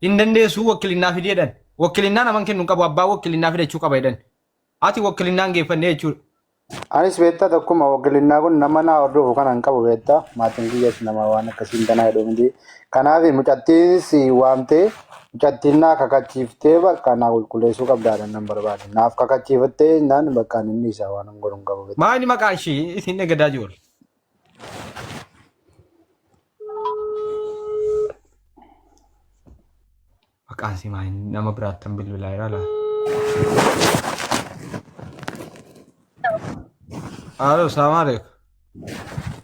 hin dandeessuu wakkilinaa fidee jedhan wakkilinaa naman kennu hin qabu abbaa wakkilinaa fida jechuu qaba jedhan ati wakkilinaa hin geeffannee jechuudha Anis beektaa tokkuma waggilinnaa kun nama naa hordofu kana hin qabu beektaa maatiin kiyyas nama waan akkasiin tanaa jedhu miti. Kanaaf mucattiinis waamtee mucattiin naa kakachiiftee bakka naa qulqulleessuu qabdaadhaan nan barbaade. Naaf kakachiifattee naan bakka inni isaa waan hin godhu hin qabu beektaa. maa inni maqaa ishee isin egadaa jiru Maqaan si maal nama biraattan bilbilaa jira laa. Haaloo salaamaa alaikum.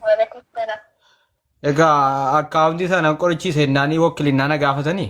Waalaikum salaam. Egaa akkaawuntii sana qorichi seennaanii wakkilinnaa na gaafatanii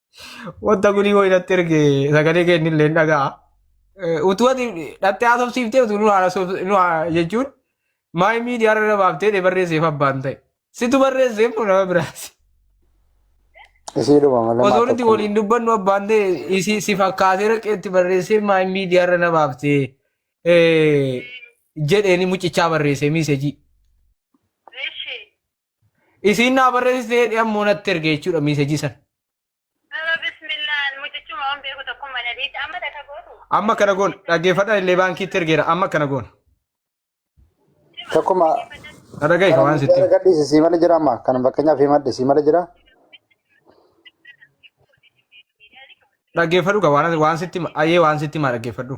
Wanta gudii wayii natti erge sagalee kee inni illee hin dhaga'a. Eh, Utuu ati dhattee haasofsiiftee utuu nu haasofs- nu haa- jechuun maay miidiyaa irra baaftee dee barreesseef abbaan ta'e. Situ barreesseef moo nama biraati. Isiidhuma malee Osoo nuti maatii waliin dubbannu abbaan ta'e isi si fakkaatee raqeetti barreessee maay miidiyaa irra na baaftee eh, jedheeni mucichaa barreessee miisejii. Isiin naa barreessitee jedhee ammoo natti erge jechuudha miisejii san. Aba bismillaan mucichuma waan beeku tokkummaa na dhiitti amma takka gootu. Amma kana goon dhaggeeffadhaan illee baankiitti ergeera amma kana goon. Tokkuma Na dhagahi kan waan sitti. gadhiisi sii mala jira amma kan fakkeenyaaf himadhe sii mala jira. Dhaggeeffadhu kan waan waan sitti ayyee waan sitti maa dhaggeeffadhu.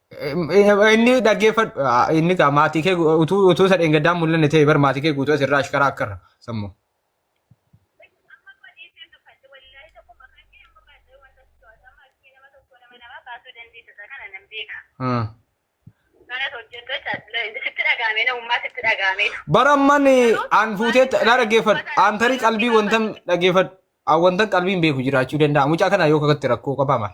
Inni dhaggeeffadhu inni gaa maatii kee utuu utuu isa dheengaddaan mul'anne ta'e bar maatii kee guutuu asirraa ashkaraa akkarra sammu. Bara amman aan fuutee na dhaggeeffadhu aan tarii qalbii wantan dhaggeeffadhu aan wantan qalbii hin beeku jiraachuu danda'a mucaa kana yoo kakatti rakkoo qabaa maal.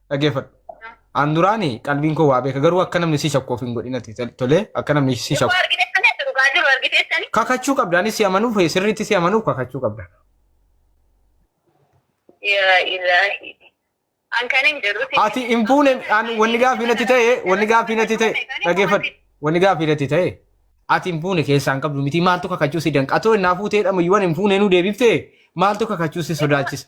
Dhageeffadhu. An duraani qalbiin koo waa beeka garuu akka namni si shakku of hin godhinati tolee akka namni si Yoo shakku. argiteessani ati dhugaa jiru argiteessani. Kakachuu qabda anis si amanuuf sirriitti si amanuuf kakachuu qabda. Yaa ilaahi. An kan hin jedhu si. Ati hin fuune an wanni gaaffii natti ta'e wanni gaaffii natti ta'e dhageeffadhu wanni gaaffii natti ta'e ati hin fuune keessaa hin qabdu miti maaltu kakachuu si danqa atoo innaa fuutee dhama iyyuu hin fuune nu deebiftee maaltu kakachuu si sodaachisa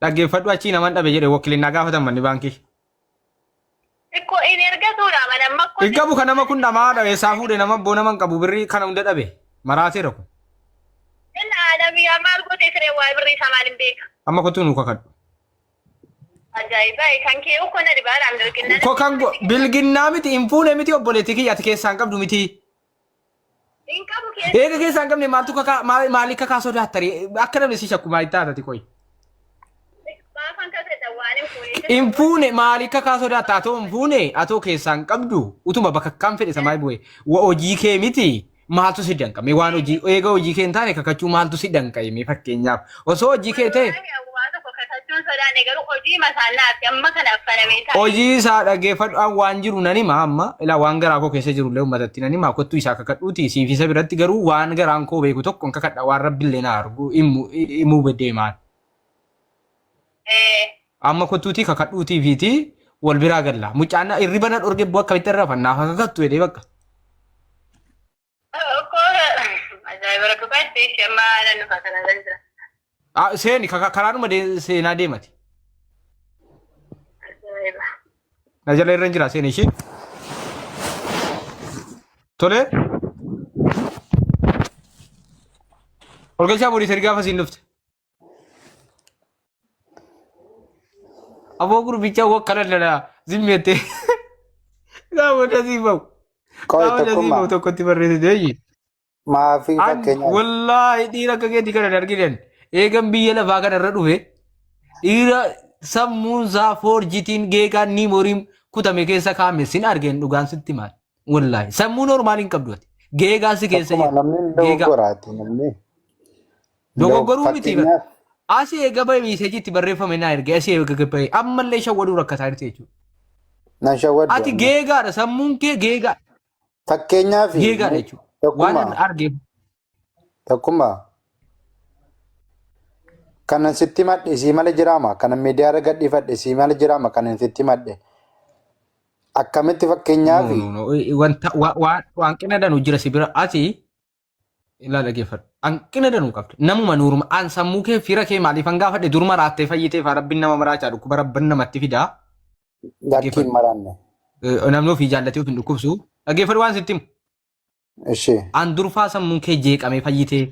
Dhaggeeffadhu achii naman dhabe jedhe wokilinnaa gaafatan manni baankii. Ikko in ergatuudha mana amma akkoo. Hin qabu kan nama kun dhamaa dhabe isaa fuudhe nama abboo nama hin qabu birrii kana hunda dhabe maraateera kun. Inni aalami yaa maal gootee siree waa'ee birrii isaa maal hin beeka. Amma kottuu nuu kakadhu. Ajaa'iba kan kee ukkoo na dhibaadhaan bilginnaan. Ko kan go- bilginnaa miti hin fuune miti obboleetti kiyya ati keessaan qabdu miti. Hin qabu keessa. Eega keessaa hin qabne maaltu kakaa maa- maalii kakaa sodaattare akka namni si shakku maal taatati qoy. Maafan kasadha waan hin fuune. Hin fuune maalii kakaa sodaatta atoo hin fuune atoo keessaa hin qabdu utuma bakka kan fedhe samaa bu'e wa hojii kee miti maaltu si danqame waan hojii eega hojii kee hin taane kakachuu maaltu si danqame fakkeenyaaf Osoo hojii kee ta'e Wallahi ani waa tokko kakachuun sodaanne garuu hojii masaa naatti amma kana affanamee taa'e. hojii isaa dhaggeeffadhu an waan jiru nan hima amma ilaa waan garaa koo keessa jiru illee uummatatti nan hima kottu isaa kakadhuuti siif isa biratti garuu waan garaan koo beeku tokko hin kakadha waan rabbi illee na argu himu himuu deemaan Eh, amma kottuutii kakadhuutii fiitii wal biraa galla mucaan irriba na dhorge boo akkamitti irra fannaa kakattu jedhee bakka Ah, Seeni ka- ka- karaanuma de- seenaa deemati. Na jala irra hin jira seeni ishee. Tole. Olgeessaa boodii sadi gaafa siin dhufte. Aboo gurbichaa wakka daldalaa zimmeettee gaafa dasii bahu Qoy gaafa dasii tokkummaa bahu tokkotti barreessite eeyyi. maafii An fakkeenyaaf wallaahi dhiira akka keetii kana hin arginen eegan biyya lafaa kana irra dhufe dhiira sammuun isaa foorjitiin geegaan niimoriin kutame keessa kaa'ame sin argeen dhugaan sitti maal. Wallaahi sammuu normaal hin qabdu ati. Geegaa si keessa Akkuma jiru. namni Geegaa. dogoggoraati namni. Dogoggoruu Dog- miti bara. fakkeenyaaf Asii eega bahe miiseejii itti barreeffame naa erge asii eega bahe ammallee shawwaduu rakkataa jirti jechuudha. nan shawwaddu Ati amma. geegaadha sammuun kee geegaa Fakkeenyaaf geegaadha jechuudha. Waan tokkummaa arge Tokkummaa. Kanan sitti himadhe isii mala jiraama. Kanan miidiyaa irra gadhiifadhe isii mala jiraama. Kanan sitti himadhe. Akkamitti fakkeenyaaf No, no, no. Wanta wa- wa- hanqina danu jira si bira ati ilaa dhageeffadhu. Hanqina danu qabda. Namuma nuuruma an sammuu kee fira kee maaliif an gaafadhe duruma raattee fayyitee faa rabbiin nama maraachaa dhukkuba rabban namatti fidaa. lakkii hin maraanne. Eh, Namni ofii jaallatee of hin dhukkubsu. Dhageeffadhu waan sitti himu. Ishee. An durfaa sammuun kee jeeqamee fayyitee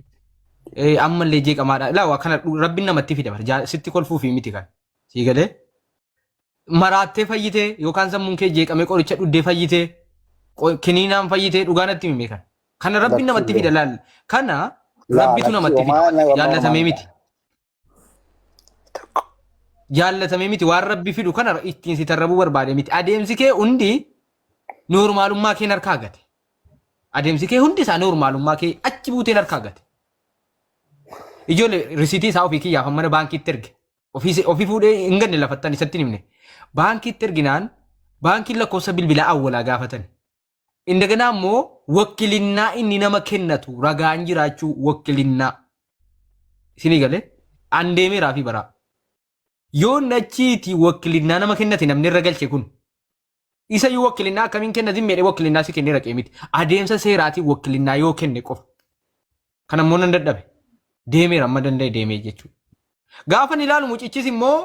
eh, ammallee jeeqamaadha. Ilaa waa kana dhu- rabbiin namatti fida bara. Jaa- Sitti kolfuu fi miti kan. Sii galee? Maraattee fayyitee yookaan sammuun kee jeeqamee qoricha dhuddee fayyitee qo- kiniinaan fayyitee dhugaa natti himee kan. Kana rabbiin Lakkii namatti fida laal. Kana Laa rabbitu lakkii namatti fida. homaa na Jaallatamee miti. Tokko. Jaallatame miti waan rabbi fidhu kana ittiin si tarrabuu barbaade miti. Adeemsi kee hundi noormaalummaa keen harkaa gate. Adeemsi kee hundi isaa noormaalummaa kee achi buuteen harkaa gate. Ijoollee risiitii isaa ofii kiyyaaf mana baankiitti erge. Ofii ofii fuudhee hin ganne lafattan isatti hin himne. Baankiitti erginaan baankiin lakkoofsa bilbilaa awwalaa gaafatan. Indaganaa immoo wakkilinnaa inni nama kennatu ragaan jiraachuu wakkilinnaa. Isinii galee? An deemeeraa fi baraa. Yoo inni achiiti wakkilinnaa nama kennate namni irra galche kun. Isa yoo wakkilinnaa akkamiin kennatin meedhee wakkilinnaa si kennee raqee miti. Adeemsa seeraatiin wakkilinnaa yoo kenne qofa. Kana immoo nan dadhabe. Deemeera amma danda'e deemee jechuudha. Gaafa ni ilaalu mucichis immoo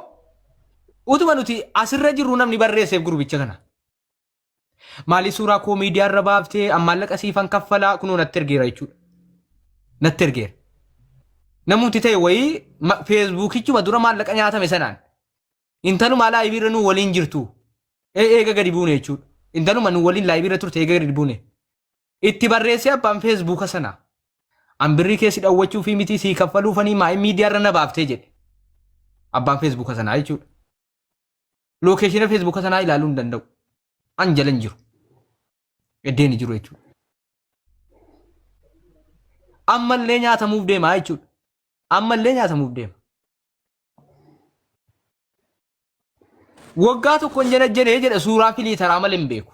utuma nuti asirra jirru namni barreesseef gurbicha kana. Maalii suuraa koo miidiyaa irra baaftee an maallaqa siifan kaffalaa kunoo natti ergeera jechuudha. Natti ergeera. Namumti ta'e wayii ma- feesbuukichuma dura maallaqa nyaatame sanaan intaluma laayivii irra nuu waliin jirtu ee- eega gadi buune jechuudha. Intaluma nuu waliin laayivii irra turte eega gadi buune. Itti barreessee abbaan feesbuuka sanaa. An birrii keessi dhawwachuu fi miti sii kaffaluufanii maa'in miidiyaa irra na baaftee jedhe. Abbaan feesbuuka sanaa jechuudha. lookeeshina feesbuuka sanaa ilaaluu hin danda'u. An jala hin jiru. Eddeen hin jiru jechuudha. Ammallee nyaatamuuf deemaa jechuudha. Ammallee nyaatamuuf deema. Waggaa tokko hin janajjanee jedha suuraa filiitaraa malee hin beeku.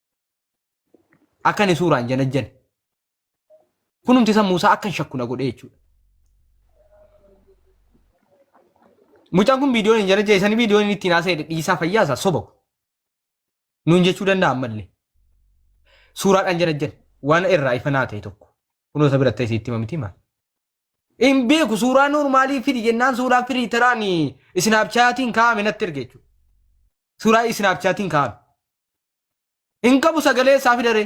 Akka inni suuraan janajjane. Kunumti sammuu isaa akka hin shakku na godhee jechuudha. Mucaan kun viidiyoon hin janajjane isanii viidiyoon inni ittiin haasa'e dhiisaa fayyaa isaa soba. Nuun jechuu danda'a ammallee. Suuraadhaan janajjane waan irraa ifa naa ta'e tokko. Kunoo isa biratti ta'e itti mamiti maal? Hin beeku suuraa noormaalii fidi jennaan suuraa firiitaraan isinaapchaatiin kaa'ame natti erge jechuudha. Suuraa isinaapchaatiin kaa'ame. Hin qabu sagalee isaa fidaree.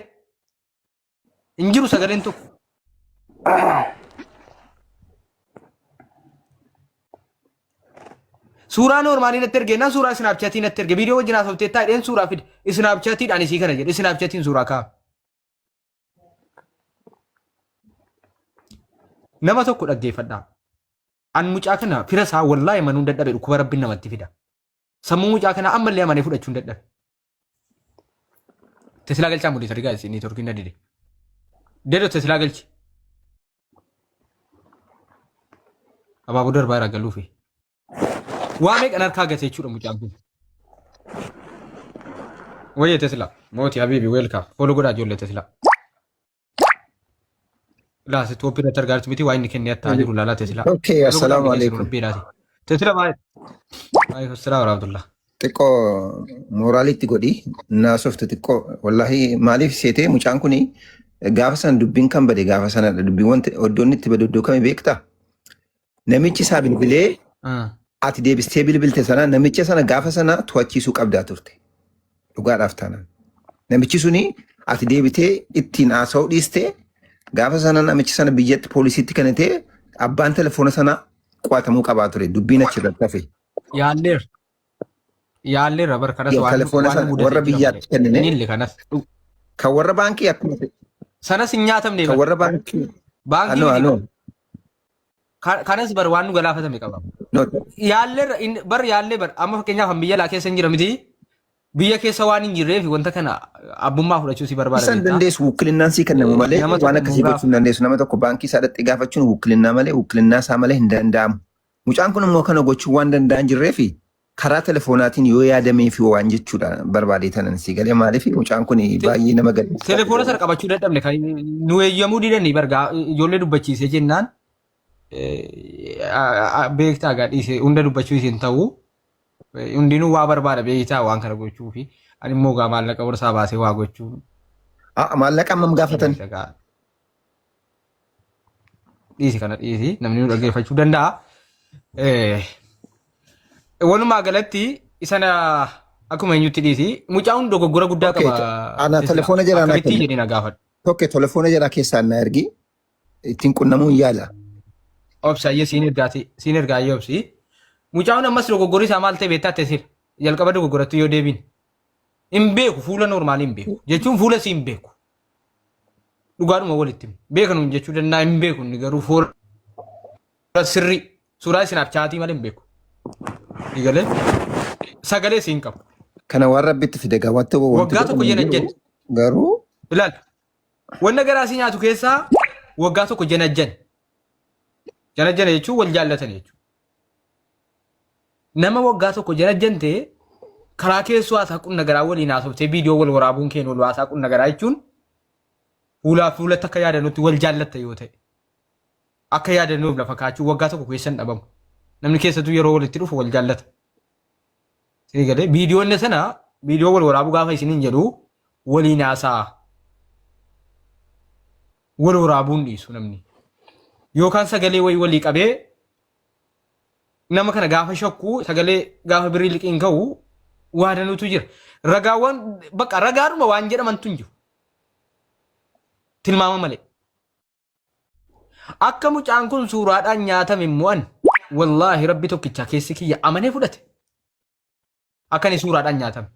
Hin jiru sagaleen tokko. Suuraa noormaalii natti erge nan suuraa isinaapchaatii natti erge viidiyoo wajjin haasofte taa dheen suuraa fide isinaapchaatiidhaan isii kana jedhe isinaapchaatiin suuraa ka'a. Nama tokko dhaggeeffadhaa. An mucaa kana fira isaa wallaahi manuun dadhabe dhukkuba rabbiin namatti fida. Sammuu mucaa kanaa ammallee amanee fudhachuu hin dadhabe. Teslaa galchaa mudii sadi gaazexii neetworkiin na dide. Dedo Teslaa galchi. Abaaboo darbaa irraa galuufi. Waa meeqan harkaa gate jechuudha mucaan kun. Wayye Teslaa. Mooti Habiibi weelkaa. Fooloo godhaa ijoollee Teslaa. Laate tooppiin irratti argaa jirtu miti waa inni kennee attaa jiru laalaa teesilaa. Okay, assalaamu alaikum. Teesila baay'ee. Waalaikum salaam warahmatullah. Xiqqoo mooraalitti godhi naasoftu xiqqoo wallahi maaliif seetee mucaan kuni gaafa sana dubbiin kan bade gaafa sanadha dubbiiwwan iddoon itti bade iddoo kami beektaa? Namichi isaa bilbilee Ah. ati deebistee bilbilte sana namicha sana gaafa sana to'achiisuu qabdaa turte. Dhugaadhaaf taanaan. Namichi suni ati deebitee ittiin haasa'uu dhiiste gaafa sana namichi sana biyyatti poolisiitti kennitee abbaan telefoona sana qo'atamuu qabaa ture. Dubbiin achirratti hafe. Yaalleer. Yaalleerra bar kanas Yoo waan telefoona waan sana mudate warra jira biyyaatti malee. kennine. Inni illee kanas. Dhu- Kan warra baankii akkuma ta'e, Sanas hin nyaatamne kan bar. warra baankii Baankii anoo miti. anoo Ka- Kanas bar waan nu galaafatame qaba. Yaalleerra in- bar yaallee bar amma fakkeenyaaf an biyya alaa keessa hin jira miti. Biyya keessa waan hin jirreef wanta kana abbummaa fudhachuu si barbaada Isaan beektaa. dandeessu wukkilinnaan sii kennamu Eh, malee nama waan tokko akkasii nu gochuu hin dandeessu. Nama tokko baankii isaa dhaqxee gaafachuun wukkilinnaa malee wukkilinnaa isaa malee hin danda'amu. Mucaan kun immoo kana gochuu waan danda'an jirreefi Karaa telefoonaatiin yoo yaadameefi waan jechuudha barbaadee tanan si galee maaliif mucaan kun Te- baay'ee nama gaddisiisaa Telefoona sana jedhama. qabachuu dadhabne kan nu eeyyamuu didanii bargaa ijoollee dubbachiisee jennaan eh, a- a- beektaa gaa dhiise hunda dubbachuu isin ta'u eh, hundinuu waa barbaada beektaa waan kana gochuu fi ani immoo gaa maallaqa borsaa baasee waa gochuun Ah, Maallaqa hammam gaafatan? beektaa gaa dhiisi kana dhiisi namni nu dhaggeeffachuu danda'a. Eh, Walumaa galatti isana akkuma eenyutti dhiisi mucaa hundi dogoggora guddaa Okay, qaba. to- ana Sisila. telefoona jalaa naa Akkamittii kenni. jedhee na gaafadhu. Tokko telefoona jalaa keessaan na ergi ittiin qunnamuu hin yaala. Obsa ayyee siin ergaati siin ergaa ayyee obsi. Mucaa hundi ammas dogoggorri isaa maal ta'e beektaa tesila. Jalqaba dogoggorattu yoo deebiin. Hin beeku fuula noormaalii hin beeku. Jechuun fuula si hin beeku. dhugaadhuma walitti beekan hin jechuu danda'a hin beeku inni garuu fuula sirrii suuraa isinaaf chaatii malee hin beeku. Eegalee sagalee siin qabu. Kana waan rabbitti fide gaa wanti wanti Waggaa tokko godhamu hin jena jiru. jedhe. Garuu Ilaal wanna garaa si nyaatu keessaa waggaa tokko janajjan. Janajjana jechuun wal jaallatan jechuudha. Nama waggaa tokko jarajjante karaa keessoo haasaa qunna garaa waliin haasoftee viidiyoo wal waraabuun keen wal haasaa qunna garaa jechuun fuulaa fuulatti akka yaadannutti wal jaallatta yoo ta'e akka yaadannuuf lafa kaachuu waggaa tokko keessa hin dhabamu. Namni keessattuu yeroo walitti dhufu wal jaallata. Sii galee viidiyoonni sana viidiyoo wal waraabuu gaafa isiniin jedhu waliin haasaa. wal waraabuu hin dhiisu namni. Yookaan sagalee wayii walii qabee nama kana gaafa shakku sagalee gaafa birrii liqiin ka'u waa danuutu jira. Ragaawwan bakka ragaadhuma waan jedhamantu hin jiru. Tilmaama malee. Akka mucaan kun suuraadhaan nyaatame immoo an wallaahi rabbi tokkicha keessi kiyya amanee fudhate. Akka inni suuraadhaan nyaatame.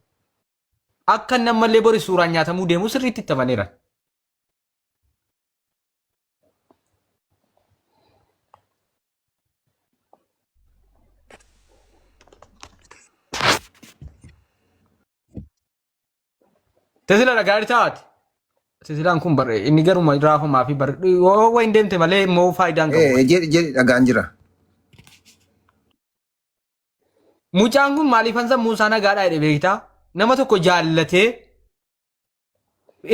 Akka inni ammallee bori suuraan nyaatamuu deemu sirriitti itti amaneera. Tesilaadha gaarii taate. Tesilaan kun bar- inni garuma raafamaa fi bar- yoo waan hin deemte malee immoo faayidaan qabu. Eh, jedhi jedhi dhagaan jira. Mucaan kun maaliif hansa Muusaa nagaadhaa jedhe beektaa? Nama tokko jaallatee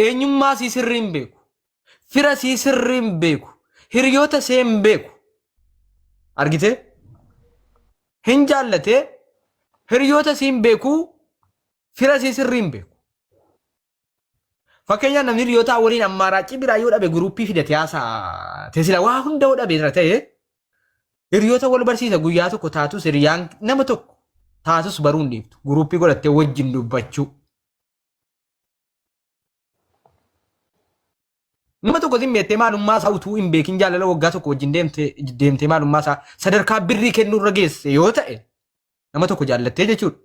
eenyummaa sii sirrii hin beeku fira sii sirrii hin beeku hiriyoota see hin beeku argitee hin jaallatee hiriyoota sii hin beeku fira sii sirrii hin beeku fakkeenyaaf namni hiriyootaa waliin ammaaraachii biraa yoo dhabe guruuppii fidate haasaa tesila waa hunda yoo dhabe irra ta'e hiriyoota wal barsiisa guyyaa tokko taatus hiriyaan nama tokko taatus baruu hin dhiiftu guruuppii godhattee wajjin dubbachuu Nama tokko sin beektee maalummaa isaa utuu hin beekin jaalala waggaa tokko wajjin deemtee deemtee maalummaa isaa sadarkaa birrii kennuu irra geesse yoo ta'e nama tokko jaallattee jechuudha.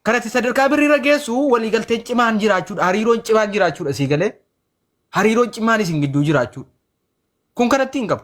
Kanatti sadarkaa birrii irra geessu waliigalteen cimaan jiraachuudha hariiroon cimaan jiraachuudha sii galee hariiroon cimaan isin gidduu jiraachuudha. Kun kanatti hin qabu.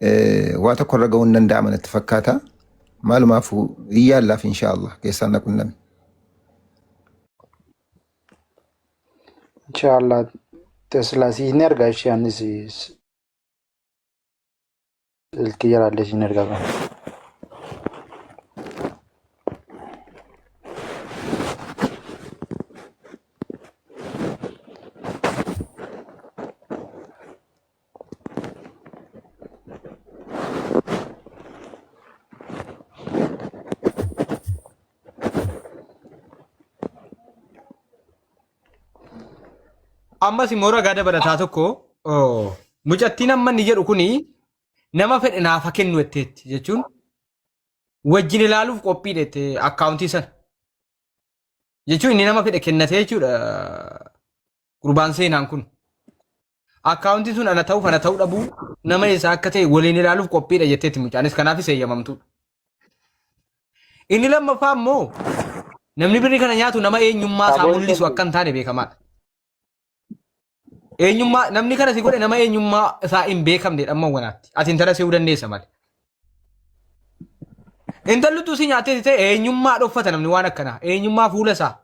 Eh, waa tokko irra ga'uun danda'ama natti fakkaata. Maalumaafuu hin yaallaaf inshaa Allah keessaan na qunnami. Inshaallah Tesla si hin erga ishee anis silkii jalaallee si hin erga qaba. ammas immoo ragaa dabalataa tokko oo, mucattiin amma inni jedhu kuni nama fedhe naafa kennu jetteetti jechuun wajjin ilaaluuf qophii dhette akkaawuntii sana jechuun inni nama fedhe kennatee jechuudha gurbaan seenaan kun. Akkaawuntiin sun ana ta'uuf ana ta'uu dhabuu nama eessaa akka ta'e waliin ilaaluuf qophiidha jetteetti mucaanis kanaafis eeyyamamtuudha. Inni lammaffaa immoo namni birrii kana nyaatu nama eenyummaa isaa Saboon mul'isu tokko. akka hin taane beekamaadha. Eenyummaa namni kana si godhe nama eenyummaa isaa hin beekamne dhamma wanaatti. Ati intala se'uu dandeessa malee. Intalli utuu si nyaattee si ta'e eenyummaa dhoffata namni waan akkanaa. Eenyummaa fuula isaa.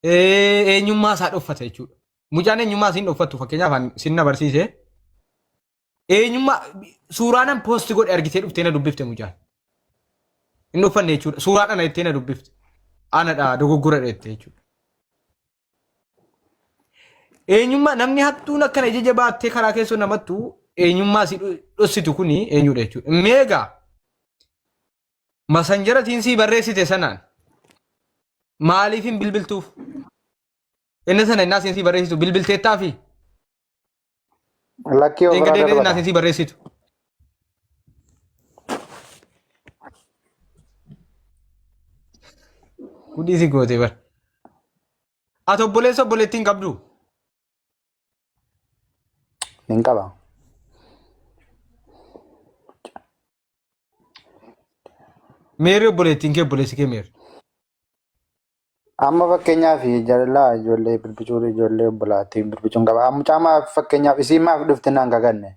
eh, eenyummaa isaa dhoffata jechuudha. Mucaan eenyummaa isin dhoffattu fakkeenyaaf an sin na barsiise eenyummaa suuraanan poosti godhe argitee dhuftee na dubbifte mucaan. Hin dhoffanne jechuudha. Suuraan ana jettee na dubbifte. Anadha dogoggora jettee jechuudha. Eenyummaa namni hattuun akkana ija baattee karaa keessoo namattu eenyummaa si dhossitu kuni eenyudha jechuudha. Meegaa masanjaratiin sii barreessite sanaan maaliif hin bilbiltuuf? Inni sana innaa siin sii barreessitu bilbilteettaa fi Lakkii of biraa dheengadee innaa darbata. siin sii barreessitu. Gudii si gootee bara. Ati obboleessa obboleettiin qabdu. Nin qaba. Meerri obboleettiin kee obboleessi kee meerri. Amma fakkeenyaaf jaalalaa ijoollee birbicuun ijoollee obbolaatiin birbicuun qaba. Amma caamaa fakkeenyaaf isiin maaf dhufte naan gaganne.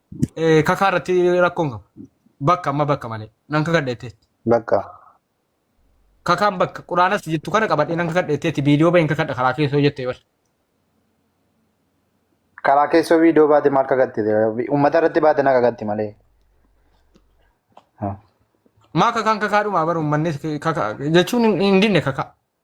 Eh, kakaa irratti rakkoon qaba. Bakka amma bakka malee. Nan kakadha jettee. Bakka. Kakaan bakka quraanas jettu kana qabadhee nan kakadha jetteetti viidiyoo bahin kakadha karaa keessoo jettee bar. Karaa keessoo viidiyoo baate maal kakatti? Uummata irratti baate na kakatti malee. Maa kakaan kakaa dhumaa bar uummannis kakaa jechuun hin dinne kakaa.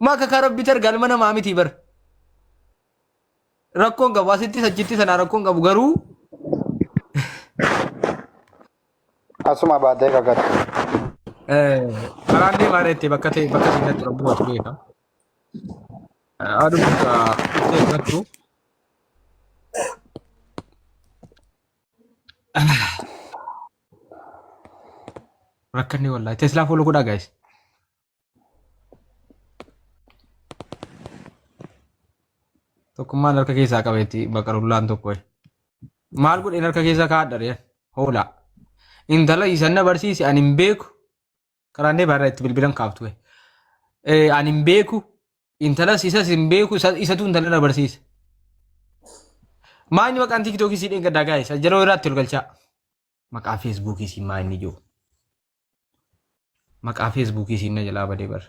Maa kakaa rabbi targa alma namaa mitii bar. Rakkoon qabu asittis achittis anaa rakkoon qabu garuu Asuma baatee kakate. karaan deemaa dheettee bakka ta'e bakka ta'e irratti rabbi watu beeka. Aduu bakka ta'e irrattu. Rakkanni wallahi. Teslaa fuula godhaa guys. Tokkummaan harka keessaa qabeetti bakka rullaan tokko. Maal godheen harka keessaa kaadhare hoolaa. Intala isan na barsiise ani hin beeku. Qaraannee baarraa itti bilbilan kaaftu. Ani hin beeku. Intalas isas hin beeku isatu intala na barsiise. Maa inni maqaan tiiktookii siidheen gaddaa gaa'isa yeroo irraatti ol galchaa. Maqaa feesbuukii siin maa inni jiru. Maqaa feesbuukii siin na jalaa badee bar.